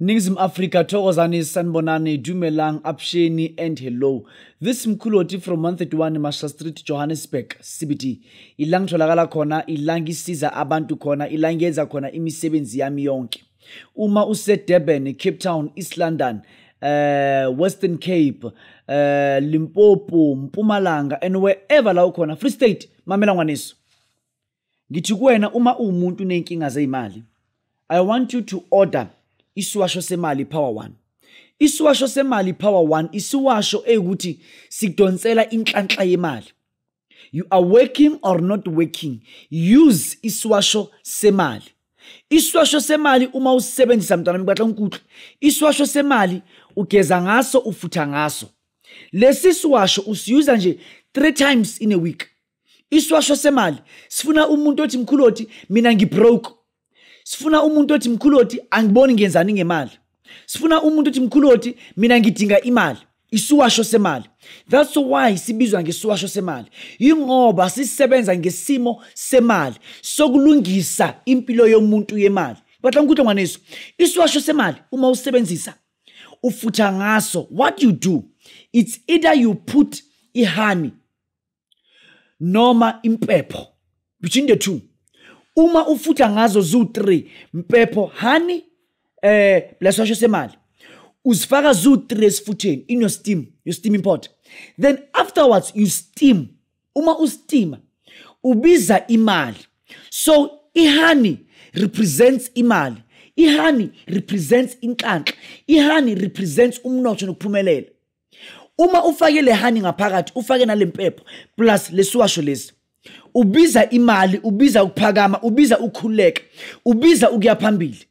Ningizim Africa, Tokozani, Sanbonani, Dumelang, Apsheni, and hello. This Mkuloti from 131 Masha Street, Johannesburg, CBD. Ilang tholakala khona, ilang isiza abantu khona, ilang yenza khona imisebenzi yami yonke. Uma use Durban, Cape Town, East London, uh, Western Cape, uh, Limpopo, Mpumalanga, and wherever la ukhona, Free State, mamela ngwanesu. Ngithi kuwena uma uwumuntu uney'nkinga zey'mali, I want you to order isiwasho semali power one. Isiwasho semali power one isiwasho eyukuthi sidonsela inhlanhla yemali. You are working or not working, use isiwasho semali. Isiwasho semali uma usisebenzisa mntwana mbatla unkuthu, isiwasho semali ugeza ngaso ufutha ngaso. Lesi siwasho usiyuza nje 3 times in a week. iswasho semali sifuna umuntu othi mkhulu othi mina ngibroke sifuna umuntu othi mkhulu othi angiboni ngenzani ngemali sifuna umuntu othi mkhulu othi mina ngidinga imali isiwasho semali that's why sibizwa ngesiwasho semali yingoba sisebenza ngesimo semali sokulungisa impilo yomuntu yemali batla ngikuhle ngwaneso isiwasho semali uma usebenzisa ufutha ngaso what you do it's either you put ihani noma impepho between the two uma ufutha ngazo zu-3 mpepho hani eh lesosho semali uzifaka zu-3 esifutheni in your steam your steam import then afterwards you steam uma ustima ubiza imali so ihani represents imali ihani represents inhlanhla ihani represents umnotho nokuphumelela uma ufake le honey ngaphakathi ufake nale mpepho plus lesiwasho lesi ubiza imali ubiza ukuphakama ubiza ukukhululeka ubiza ukuya phambili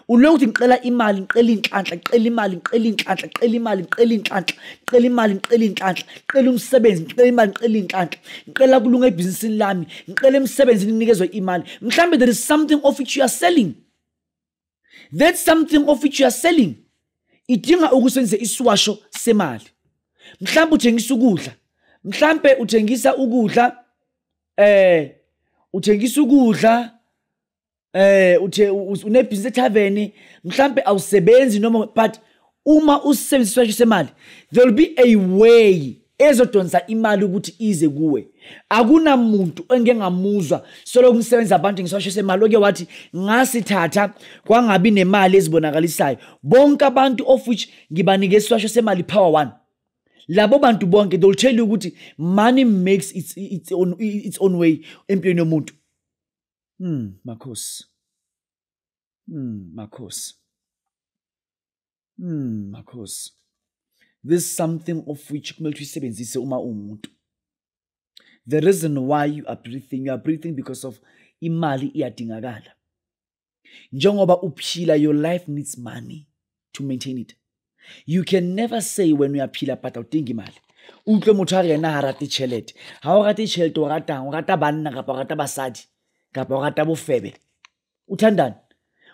ulokuthi ngicela imali ngicela inhlanhla ngicela imali ngicela inhlanhla ngicela imali ngicela inhlanhla ngicela imali ngicela inhlanhla ngicela umsebenzi ngicela imali ngicela inhlanhla ngicela kulunga ebhizinisini lami ngicela emsebenzini nginikezwe imali mhlambe there is something of which you are selling that something of which you are selling idinga ukusebenzisa isiwasho semali mhlawumbe uthengisa ukudla mhlawumbe uthengisa ukudla eh uthengisa ukudla eh uthe unebhizinisi ethaveni mhlawumbe awusebenzi noma but uma usisebenzisa isipesho semali there will be a way ezodonsa imali ukuthi ize kuwe akunamuntu engike ngamuzwa solo kumsebenza abantu ngisasho semali oke wathi ngasithatha kwangabi nemali ezibonakalisayo bonke abantu of which ngibanike isiswasho semali power one labo bantu bonke they will tell you ukuthi money makes its, its, own, its own way empilweni yomuntu hmm makhosi Mm, Makhosi. Mm, Makhosi. This is something of which kumele uyisebenzise uma umuntu. The reason why you are breathing, you are breathing because of imali iyadingakala. Njengoba uphila your life needs money to maintain it. you can never say wena uyaphila but awudingi imali utlwe motho a re ena ga rate tšhelete ga o rate tšhelete o ratang o rata banna kapa o rata basadi kapa o rata bofebe o thandane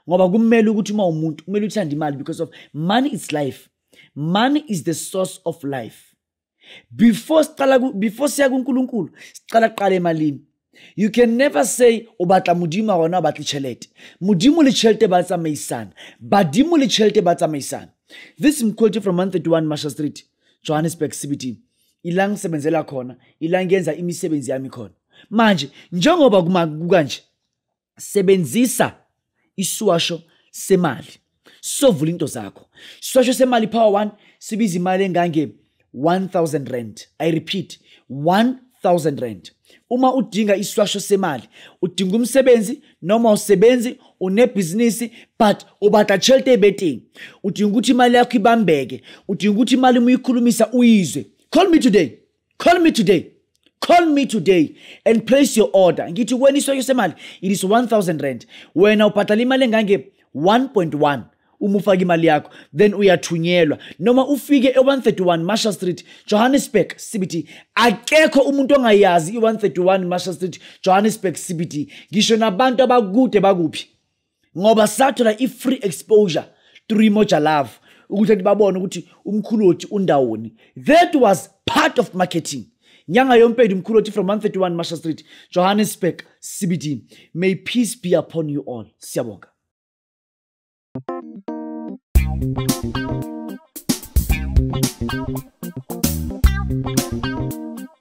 ngoba kumele ukuthi uma umuntu kumele uthande imali because of money is life money is the source of life before siqala before siya kuNkulunkulu siqala qala emalini you can never say o batla modimo a gona o batle tšhelete modimo le tšhelete ba tsamaisana badimo le tšhelete ba tsamaisana this mquality from 131 marshal street johannesburg cbt ila ngisebenzela khona ila ngiyenza imisebenzi yami khona manje njengoba kukanje sebenzisa isiwasho semali sovula into zakho isiwasho semali power one sibiza imali engange 1000 rand i repeat 1000 rand uma udinga isiwasho semali udinga umsebenzi noma usebenzi unebhizinisi but ubata chelete ebetting udinga ukuthi imali yakho ibambeke udinga ukuthi imali uma uyikhulumisa uyizwe call me today call me today call me today and place your order ngithi wena iswesho semali it is 1000 rand wena ubhadala imali engange 1.1 uma ufake imali yakho then uyathunyelwa noma ufike e-131 marshall street johannesburg cbt akekho umuntu ongayazi i-131 marshall street johannesburg cbt ngisho nabantu abakude bakuphi ngoba sathola i-free exposure through imoja love ukuthi athi babone ukuthi umkhuloti undawoni that was part of marketing nyanga yompedi umkhuloti from 131 marshal street johannesburg cbd may peace be upon you all siyabonga